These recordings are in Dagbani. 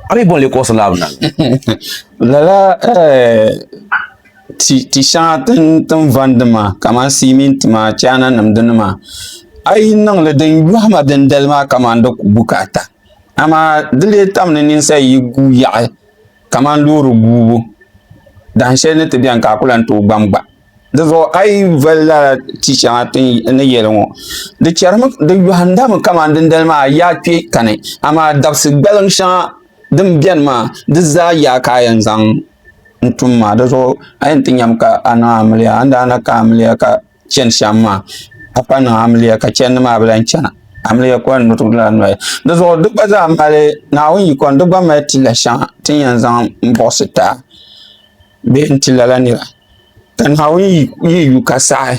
A mi bɔn li kuɣisi laabu na? Lala eh, ti shɛŋa tin vandi maa kamani siminti maa chaana nim dini maa a yi niŋli din yɔhima dindali maa kamani di ku bukaata amaa di lee tam ni ninsal yi gu yaɣi kamani loori guubu dahin shɛli ni ti bɛni ka a ku lan tooi gbam gba Di zuɣu a yi vali lala ti shɛŋa ti ni yɛli ŋɔ, di chɛrimi, di yɔhindami kaman dindali maa yaa kpe kani, amaa dabisi gbaliŋ shɛŋa din beni maa, di zaa yaa ka a yɛn zaŋ n-tum maa. Di zuɣu a yɛn ti nyami ka a niŋ amiliya. A ni daa na ka amiliya ka chani shɛm maa, a pa niŋ amiliya ka chɛndi maa bi lahi chana. Amiliya kɔli ni di lan noli. Di zuɣu di gba zaa mali, Naawuni yikɔni, di gba mali ti la shɛŋa ti ni yɛn zaŋ m-buɣisi ti a. bee n ti lala nira. Ka Naawuni yi yu ka saɣi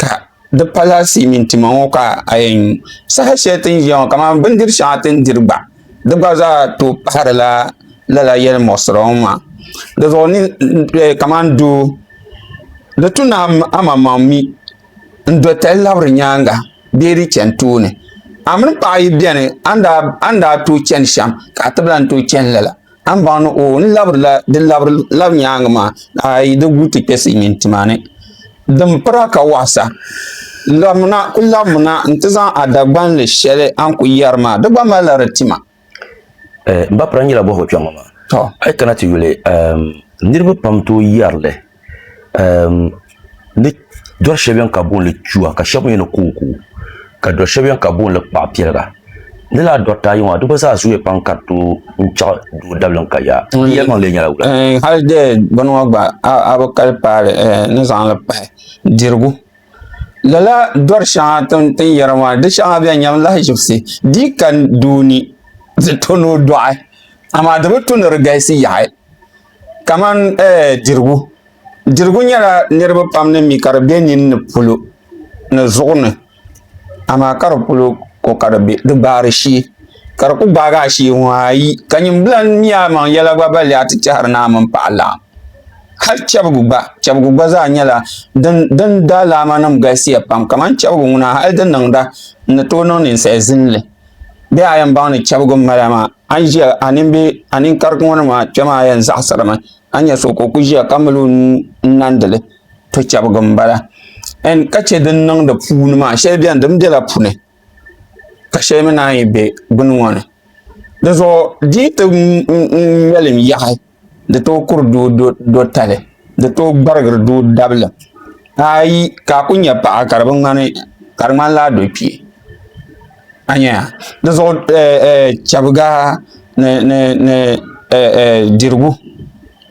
ka di pala silimiin tima ŋɔ ka a yɛn nyu saha shɛli ti ni ʒiya ŋɔ kamani bindiri shɛŋa ti ni diri gba di gba zaa tooi pahirila lala yɛlimuɣisira ŋɔ maa dizuɣu kamani doo di tu ni amaŋmaŋ mi n doli tali labiri nyaaŋa bee di chani tooni a mini paɣa yi beni a ni daa tooi chani shɛm ka a ti lahi tooi chani lala. A ni baŋ ni o ni labirila di labiri lab nyaaŋa maa, a yi di gu ti kpe Silimiin tuma ni, din pira ka waɣa sa. Labimina, kul labimina nti zaŋ a Dagbanli shɛli a ni kul yɛri maa, di gba malila di tima. N ba pira nyɛla bɔhigɔ kpɛŋɔ maa, a yi kana ti yuli, niriba pam tooi yɛri li. ehm, di dɔri shɛli bɛni ka boonli chua ka shɛba mi ni kooko ka dɔri shɛli bɛni ka boonli kpaɣu piɛliga di laa dɔrita ayi maa di gba zaa zooya pam ka di tooi n chaɣ doo dablim ka yaa tiŋ yɛlimaŋ lee nyɛla wula eh, hali de bini ŋɔ gba a bi kali paali eh, ni zaŋli pahi dirigu lala dɔri shɛŋa tin yɛri maa di shɛŋa bɛn nyɛm lahi ʒibisi di ka doo ni di to ni o dɔɣi amaa di bi tu ni di galisi yaɣi Kamani eh, dirigu. Dirigu nyɛla niriba pam ni mi ka di be nini ni polo ni zuɣu ni, amaa ka di polo ko ka di be di gbaari shee. Ka di ku gbaagi a shee ŋɔ ayi, ka nyimbila mi a maŋ yɛla gba balli a ti tɛhiri naa mini paɣa laɣim. Hal chɛbigu gba, chɛbigu gba zaa nyɛla din din daalaamanim galisiya pam, kamani chɛbigu ŋuna hal di niŋda n ni tooi niŋ ninsal zinli. Bɛ a yɛn baŋ ni chɛbigu m-mala maa? An ʒiya a nimbi a ninkarigi ŋɔ ni maa kpɛma a yɛn zaɣasirimi a nyɛ so ka o ku ʒiya ka mali o nuu n nandili to chɛbigi n bala ka chɛ din niŋ di puuni maa shɛli biɛni din biɛla puuni ka shɛli mii naan yi bɛ gbuni ŋɔ ni dizuɣu di yi ti ŋmɛlim yaɣi Di tooi kuri doo dotali, di tooi gbarigiri doo dabili. Ayi ka a ku nya paɣa ka di bi ŋmani, ka di ŋmanila a dokpee. A nya ya? Di zuɣu chɛbiga ni dirigu.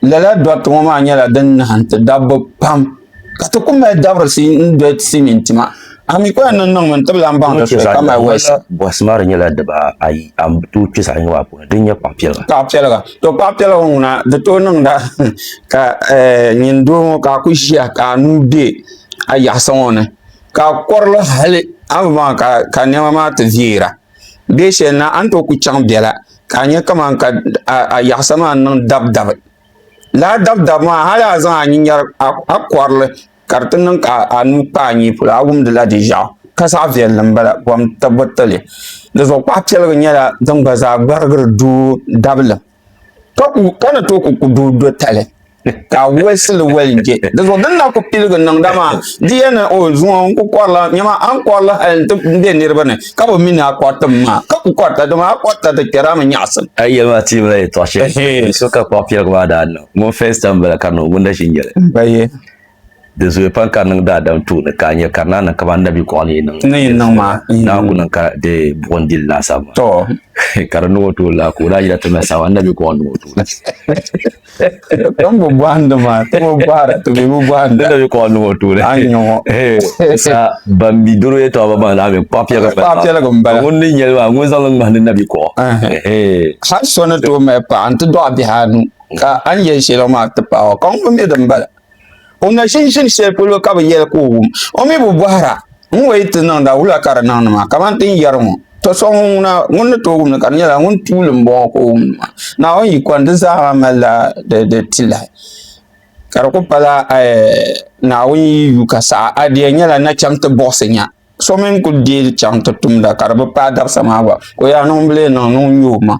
Lala doriti ŋɔ maa nyɛla din nahi n-ti dabba pam. ka ti ku mali dabirisi n-doli ti mini tima. A mi kɔya ni niŋmi n-tibili a ni baŋ ti soya ka mali wɔyisa. Bɔhisi maa di nyɛla diba ayi, a ni tooi kpe zaɣ yini maa puuni, din nyɛ kpaɣ piɛliga. Kpaɣ piɛliga. To kpaɣ piɛliga ŋuna di tooi niŋda ka nyini doo ŋɔ ka a ku ʒiya ka a nuu be a yaɣisa ŋɔ ni ka a kɔri li hali a ni baŋ ka nɛma maa ti veera bee shɛli na a ni tooi ku chaŋ bela ka a nya kaman ka a yaɣisa maa niŋ dabidabi. lala dabi dabi maa hali a zaŋ a nyin yari a kɔrili ka di ti niŋ ka a nuu kpa a nyee polo a wumdi la di ʒiɛɣu ka zaɣa viɛlli m bala bɔn tibbu tili di zuɣu kpaɣa piɛlgu nyɛla din gba zaa gbarigiri doo dabili ka ku ka ni too ku doo do tali ka a wolisi li woli je di zuɣu din na ku piligi niŋda maa di yɛn niŋ o zuŋɔ n ku kɔrila nyama a ni kɔrili hali n ti be niriba ni. ka bi mi ni a kɔriti mi maa ka ku kɔrita dama a kɔrita ti kpɛri a mi nyaɣisim. A yi yɛli maa ti yimila yɛtɔɣ shɛli so ka kpuɣ piɛligu maa daa niŋ ŋun fɛs tam bala ka niŋ ŋun na ʒi nyɛli. Di zooi pam ka niŋ daadam tooni ka a nya ka di naa niŋ kamani Nabi kɔɣu ni yi niŋ ni yi niŋ maa naa ku niŋ ka di buɣim dili laasabu maa ka di niŋ o tooni la ka o daa yɛli ti mali saɣim a Nabi kɔɣu niŋ o tooni. Kpambo bɔhindi maa ti bi bɔhira ti bi bi bɔhindi. Dina bi kɔɣa niŋɔ tuuli. A ni nyɔŋɔ. Sa ban bi doro ya tɔɣa ba maa mi kpaa piɛliga bala. Kpaa piɛliga n bala. Ŋun ni nyɛli maa ŋun zaŋli ŋmahindi na bi kɔɣa. Hali so ni tooi mali paɣa n ti dɔɣi bihi anu ka a ni yɛli shɛli maa ti paɣi o ka ŋun mi din bala. O na ʒin ʒini shɛli polo ka bi yɛli ka o wum. O mi bi bɔhira ŋun o yi ti niŋda wula ka di niŋdi maa, kamani ti ni yɛri ŋɔ, To so ŋun ŋuna, ŋun ni tooi wumdi ka di nyɛla ŋun tuuli m-bɔŋɔ ka o wumdi maa. Naawuni yikɔni di zaa ha malila di tilahi, ka di kuli pala Naawuni yi yu ka saɣi a diya nyɛla nachɛŋ ti buɣisi nya. So mi n-kul deei chaŋ ti tumda ka di bi paai dabisa maa gba, ka o yɛli ni ŋumbila yɛn niŋ ni ŋun nya omaŋ.